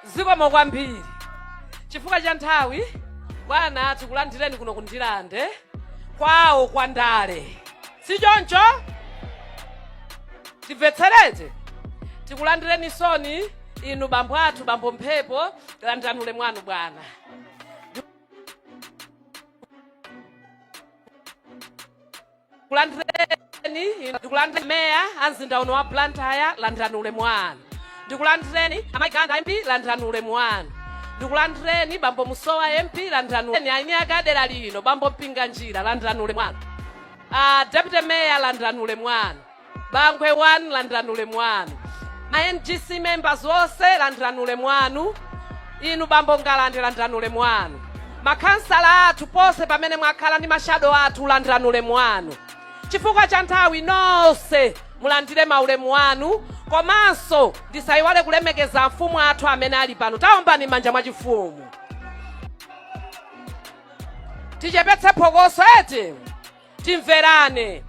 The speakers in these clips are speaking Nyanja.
zikomo kwambiri chifukwa cha nthawi bwana tikulandireni kuno ku ndirande kwawo kwa ndale si choncho timvetserete tikulandireni soni inu bambo athu bambo mphepo landirani ulemu wanu bwana kulandireni inu- ndikulandireni meya a mzinda uno wa blantyre landirani ulemu wanu ndikulandireni amayi kanga mp landirani ulemu wanu ndikulandireni bambo musowa mp landirani ulemu wanu. eni ake a dera lino bambo mpinganjira landirani ulemu wanu Ah, deputy meya landirani ulemu wanu Bangwe 1 landirani ulemu wanu. Ma NGC members onse landirani ulemu wanu. Inu bambo Ngalande landirani ulemu wanu. Makhansala athu ponse pamene mwakhala ndi mashado athu landirani ulemu wanu. Chifukwa cha nthawi nonse mulandire maulemu anu komanso ndisayiwale kulemekeza amfumu athu amene ali pano. Taombani manja mwachifumu. Tichepetse phokoso eti. Timverane.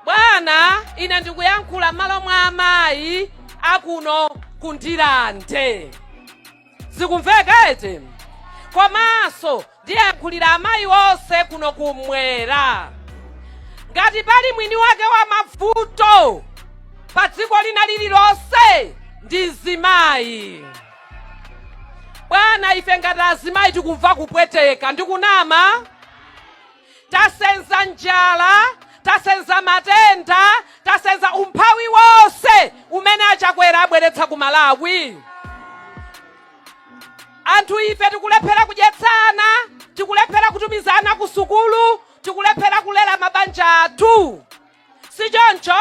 Bwana, ine ndikuyankhula m'malo mwa amayi akuno ku Ndirande. Zikumveka eti? Komanso ndiyankhulira amayi onse kuno kummwera. Ngati pali mwini wake wa mavuto pa dziko lina lililonse ndi mzimayi. Bwana, ife ngati azimayi tikumva kupweteka, ndikunama? Tasenza njala, tasenza matenda, tasenza umphawi wonse umene a Chakwera abweretsa ku Malawi. Anthu ife tikulephera kudyetsa ana, tikulephera kutumiza ana kusukulu, tikulephera kulera mabanja athu. si choncho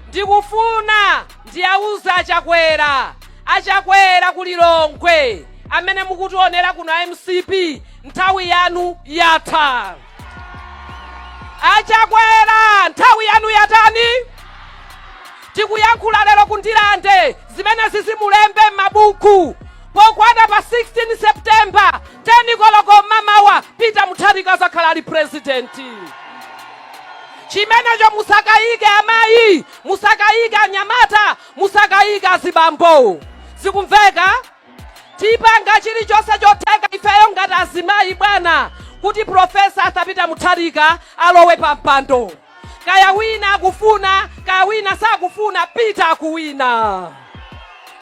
ndikufuna ndiwauze achakwera achakwera ku lilongwe amene mukutionera kuno a mcp nthawi yanu yatha achakwera nthawi yanu yatani tikuyankhula lero ku ndirande zimenezi muzilembe m'mabuku pokwana pa 16 septemba 10 koloko mamawa peter mutharika azakhala ali purezidenti chimenecho. Musakayike amayi, musakayike anyamata, musakayike azibambo. Zikumveka? Tipanga chilichonse chotheka ifeyo ngati azimayi bwana, kuti Professor Arthur Peter Mutharika alowe pa mpando. Kaya wina akufuna, kaya wina sakufuna, Peter akuwina.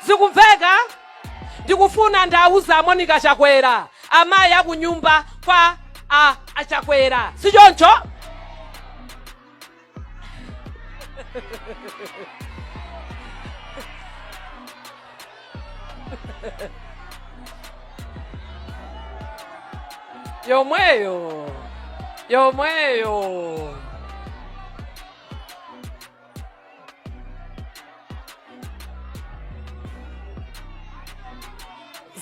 Zikumveka? Ndikufuna ndiwauze a Monica Chakwera, amayi a kunyumba kwa a a Chakwera, si choncho? Yomweyo, yomweyo.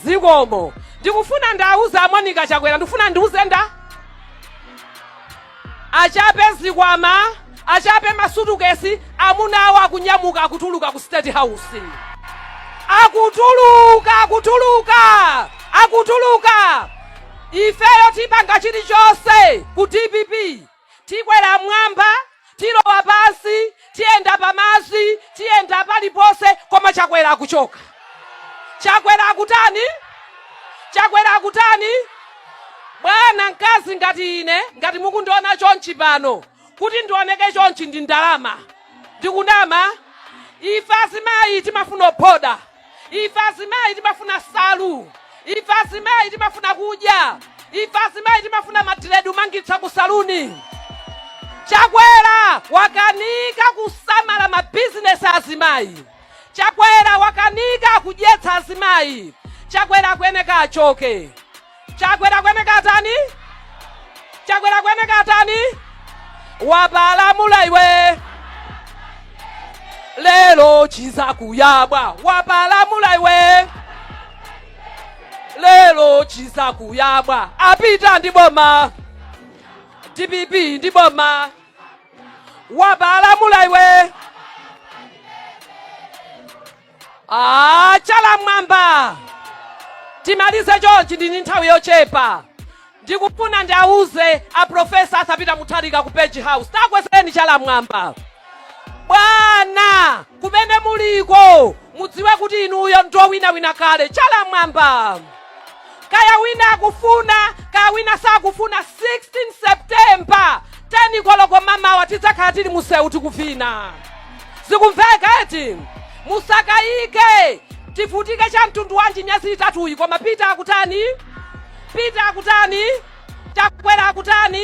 zikomo ndikufuna ndauze a Monica Chakwera ndikufuna ndiuze nda achape zikwama achape masutukesi amuna awo akunyamuka akutuluka ku state house akutuluka ifeyo tipanga chilichonse ku dpp Tikwera m'mwamba, tilowa pansi, tiyenda pa madzi, tiyenda paliponse, koma Chakwera akuchoka. Chakwera akutani? Chakwera akutani? Bwana, mkazi ngati ine, ngati mukundiona chonchi pano, kuti ndioneke chonchi ndi ndalama? Ndikunama? Ife azimayi timafuna ophoda. ife azimayi timafuna salu ife azimayi timafuna kudya ife azimayi timafuna madiredi kumangitsa ku saluni chakwera wakanika kusamala mabizinesi azimayi chakwera wakanika kudyetsa azimayi chakwera akuyeneka achoke Chakwera akuyeneka atani? Chakwera akuyeneka atani? Wapalamula iwe lero chizakuyabwa wapalamula iwe lero chizakuyabwa a Peter ndi boma dpp ndi boma wapalamula iwe Ah, chala mwamba timalize chonchi ndi nthawi yochepa ndikufuna ndiauze a profesa Arthur Peter Mutharika ku page house takwezeni chala mwamba bwana kumene muliko mudziwe kuti inuyo ndowinawina kale chala mwamba kaya wina akufuna kaya wina sakufuna 16 september 10 koloko mamawa tidzakhala tili musewu tikuvina zikumveka eti musakayike tivutike cha mtundu wanji miyezi itatuyi koma Peter akutani Peter akutani chakwera akutani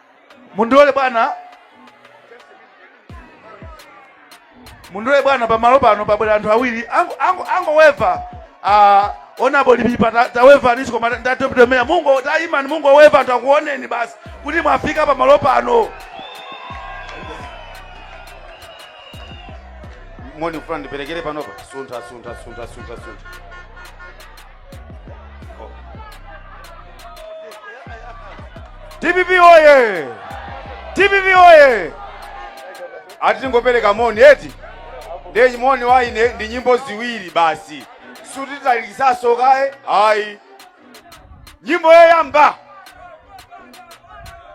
mundilole bwana mundilole bwana pamalo pano pabwera anthu awiri ango- ango- angoweva ah, onabo lipipa ta- tawevanisi koma ndatopitomera mungo taimani mungoweva anthu akuoneni basi kuti mwafika pamalo pano moni kufuna ndiperekere panopa suntha suntha suntha suntha suntha dpp oye dpp oye ati tingopereka moni eti ndiye moni waine ndi nyimbo ziwiri basi sititalikisaso kaye ayi nyimbo yoyamba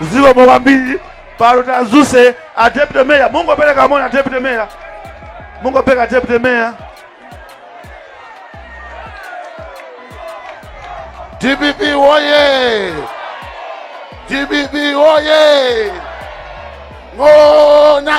zikomo kwambiri pano tadzutse a deputy mayor mungopereka moni a deputy mayor mungopereka a deputy mayor dpp woye dpp woye ng'ona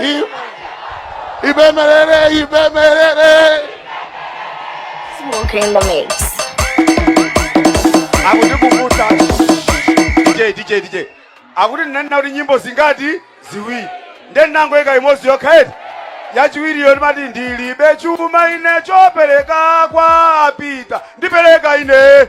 I- ipemerere ipemerere Smoking in the mix. akuti kukuta dj dj dj akuti ndinanena kuti nyimbo zingati ziwiri nde ndinangoika imodzi yokha eti yachiwiriyo ndimati ndilibe chuma ine chopereka kwa a Peter ndipereka ine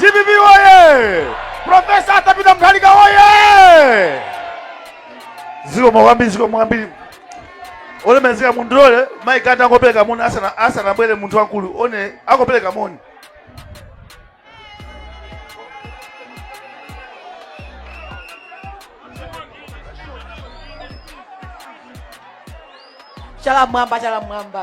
dpp oye profesa Arthur Peter Mutharika oye zikomo kwambiri zikomo kwambiri olemezeka munthu lole mayi ati angopereka moni asana- asanabwere munthu wamkulu one angopereka moni chala m'mwamba chala m'mwamba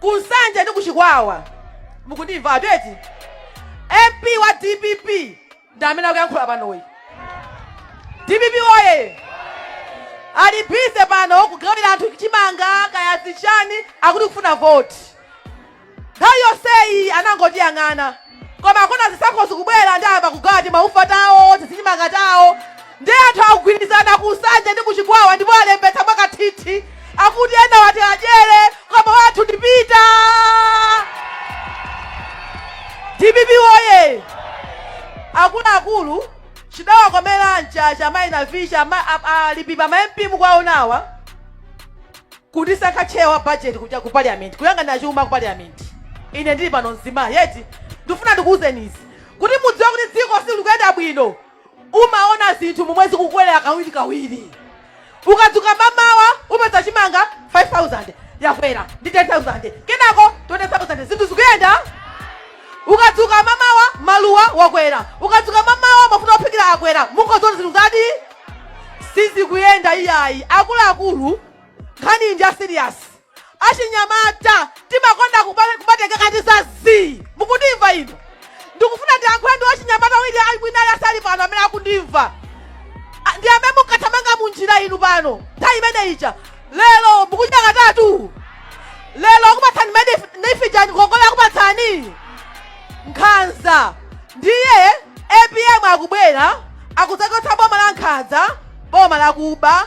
ku nsanje ndi ku chikwawa mukundimva atu eti mp wa dpp ndi amene akuyankhula panoyi dpp oye ali busy pano kugawira anthu chimanga kaya zichani akuti kufuna voti nthawi yonseyi anangotiyang'ana koma akuona zisankho zikubwera ndiye ayamba kugawa timaufa tawo tizichimanga tawo ndiye anthu akugwirizana ku nsanje ndi ku chikwawa ndipo alembetsa mwakathithi akuti enawa tiwadyere koma wathu ndi Peter dpp woye akuluakulu chidawakomera mchacha maina vicha alipipa ma mp mukwaonawa Kundisankha chair wa budget kuja ku parliament, kuyang'anira chuma ku parliament. Ine ndili pano mzimayi eti. Ndikufuna ndikuuzeni izi. Kuti mudziwe kuti dziko silikuyenda bwino. Umaona zinthu momwe zikukwerera kawiri kawiri. Ukadzuka mamawa upeza chimanga 5000 yakwera ndi 10000. Kenako 20000 zinthu zikuyenda. Ukadzuka mamawa maluwa wakwera. Ukadzuka mamawa mafuta ophikira akwera. Mukungoziona zinthu zake sizikuyenda iyayi. Akuluakulu nkhani iyi ndi ya serious achinyamata timakonda kuba- kubatengeka ndi za zii mukundimva inu ndikufuna ndiyankhule ndi achinyamata wili ayi mwina ayi asali pano amene akundimva A- ndi amene munkathamanga mu njira inu pano nthawi imene ija lero mukudya katatu lero akupatsani mene nifijani ngongole akupatsani nkhanza ndiye apm akubwera akudzachotsa boma la nkhanza boma lakuba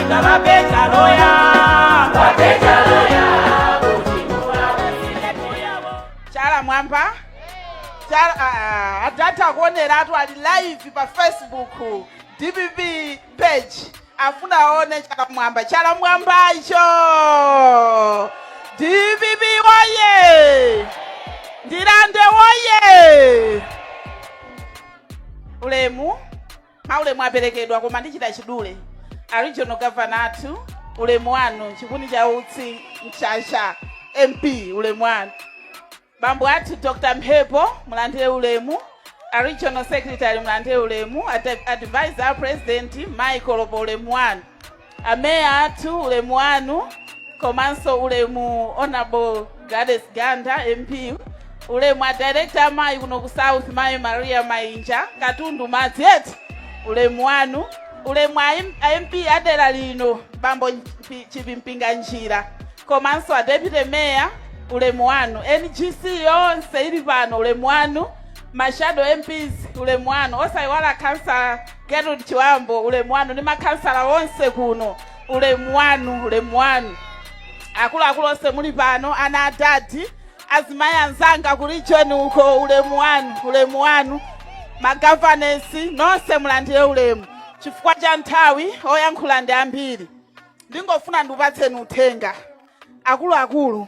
DPP woye. DPP woye. Chala m'mwamba. Chala uh, adad akuoneratu ali live pa Facebook DPP page. Afuna aone chala m'mwamba. Chala m'mwamba icho. DPP woye. Ndirande woye. Ulemu. Maulemu aperekedwa koma ndichita chidule. A regional governor athu ulemu wanu chipuni cha utsi Mchacha MP ulemu wanu. Bambo athu Dr. Mphepo mulandire ulemu. A regional secretary mulandire ulemu. Ad- Advisor a president Michael apo ulemu wanu. Ameya athu ulemu wanu komanso ulemu honorable Gladys Ganda MP ulemu a director amayi kuno ku South mayi Maria Mainja katundu madzi eti ulemu wanu ulemu a M- a MP wa dera lino bambo Mpi- chipimpinga njira komanso a deputy mayor ulemu wanu NGC yonse ili pano ulemu wanu mashado MPs ulemu wanu osayiwala khansala Gertrude Chiwambo, ulemu wanu ndi makhansala onse kuno, ulemu wanu, ulemu wanu. Akuluakulu onse muli pano, ana adadi, azimayi anzanga ku region uko, ulemu wanu, ulemu wanu. Magavanesi nonse mulandire ulemu. Chifukwa cha nthawi oyankhula ndi ambiri, ndingofuna ndikupatseni uthenga akuluakulu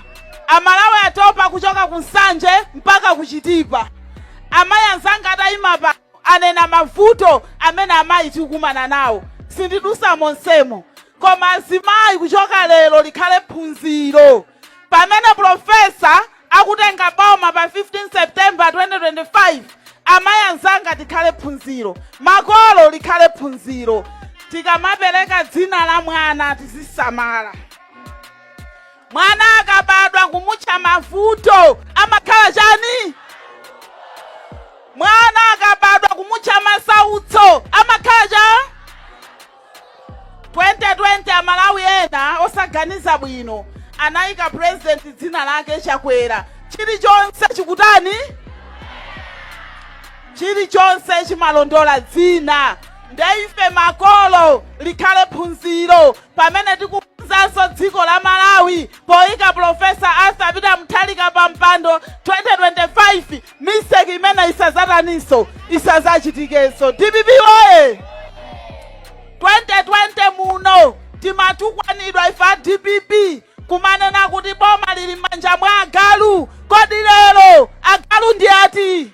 amalawi atopa kuchoka ku nsanje mpaka ku chitipa amayi anzanga atayima apa anena mavuto amene amayi tikukumana nawo sindidusa monsemu koma azimayi kuchoka lero likhale phunziro pamene profesa akutenga boma pa 15 september 2025 amayi anzanga tikhale phunziro makolo likhale phunziro tikamapereka dzina la mwana tizisamala Mwana akabadwa kumutcha Mavuto amakhala chani? Mwana akabadwa kumutcha Masautso amakhala chani? 2020 amalawi ena osaganiza bwino anayika president dzina lake Chakwera, chilichonse chikutani, chilichonse chimalondola dzina. Ndeife makolo likhale phunziro pamene tikukonzanso dziko la malawi poyika pulofesa arthur peter mutharika pa mpando 2025 mistake imene isazataninso isazachitikenso dpp woye 2020 muno timatukwanidwa ife a dpp kumanena kuti boma lili m'manja mwa agalu kodi lero agalu ndi ati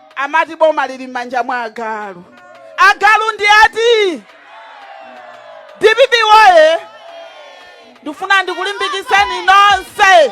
amati boma lili m'manja mwa agalu agalu ndi ati dpp woye ndifuna ndikulimbikitseni nonse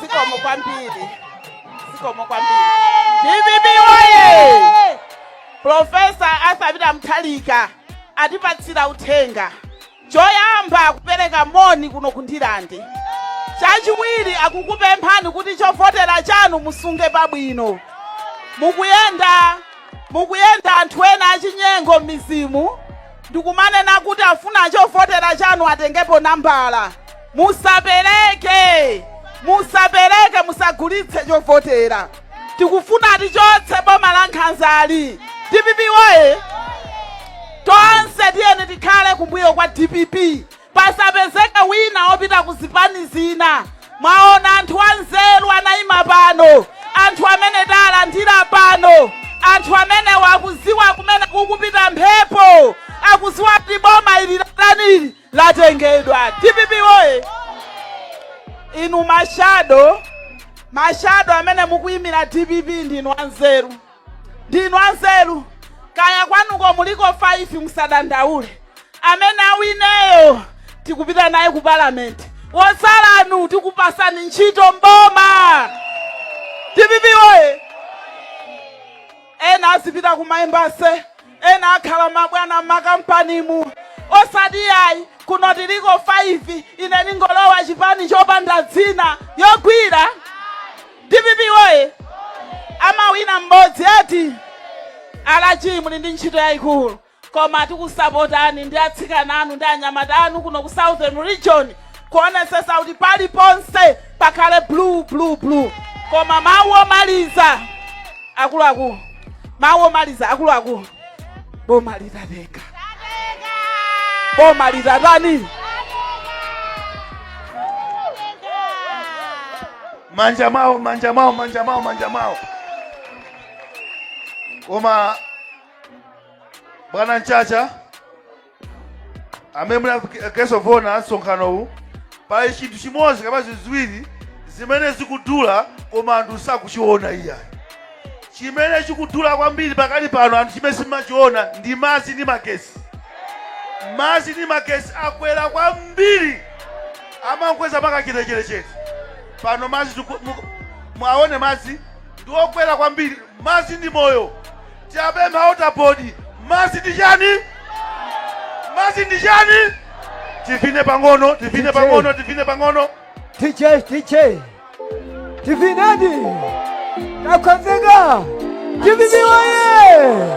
Zikomo kwambiri. Zikomo kwambiri. DPP woye! Profesa Arthur Peter Mutharika atipatsira uthenga. Choyamba kupereka moni kuno ku Ndirande. Chachiwiri akukupemphani kuti chovotera chanu musunge pabwino. Mukuyenda mukuyenda anthu ena achinyengo m'mizimu ndikumanena kuti afuna chovotera chanu atengepo nambala musapereke musapereke musagulitse chovotera tikufuna tichotse boma la nkhanzali dpp woye tonse tiyeni tikhale kumbuyo kwa dpp pasapezeke wina opita ku zipani zina mwaona anthu anzeru anayima pano anthu amene talandira pano anthu amenewa akuziwa kumene kukupita mphepo akuziwa kuti boma ili latani latengedwa dpp woye inu mashado mashado amene mukuyimira dpp ndinu anzeru Ndinu anzeru kaya kwanuko muliko 5 musadandaule amene awineyo tikupita naye ku parliament wotsalanu tikupasani ntchito m'boma dpp woye ena azipita kumaembase ena akhala mabwana m'makampanimu osati yayi kuno tiliko 5 ine ndingolowa chipani chopanda dzina yogwira Dpp woye! Amawina m'bodzi ati? a RG muli ndi ntchito yaikulu koma tikusapotani ndi atsikana anu ndi anyamata anu kuno ku Southern Region kuonesesa kuti paliponse pakhale blue blue blue koma mawu omaliza akuluakulu mawu omaliza akuluakulu boma litateka boma litatani manja mwawo manja mwawo manja mwawo manja mwawo koma bwana mchacha amene muli a guest of honor a msonkhanowu pali chinthu chimodzi kapena ziwiri zimene zikudula koma anthu sakuchiona iyayi chimene chikudula kwambiri pakali pano anthu chimene simachiona ndi madzi ndi magesi madzi ndi magesi akwera kwambiri amakweza mwakachetechetechete pano madzi tiku- mu- mwaone madzi ndi okwera kwambiri madzi ndi moyo Tiwapempha a water board madzi ndi chani? Madzi ndi chani? Tivine pang'ono, tivine Tiche. pang'ono, tivine pang'ono. tiche tiche tivineni takonzeka tiviniwaye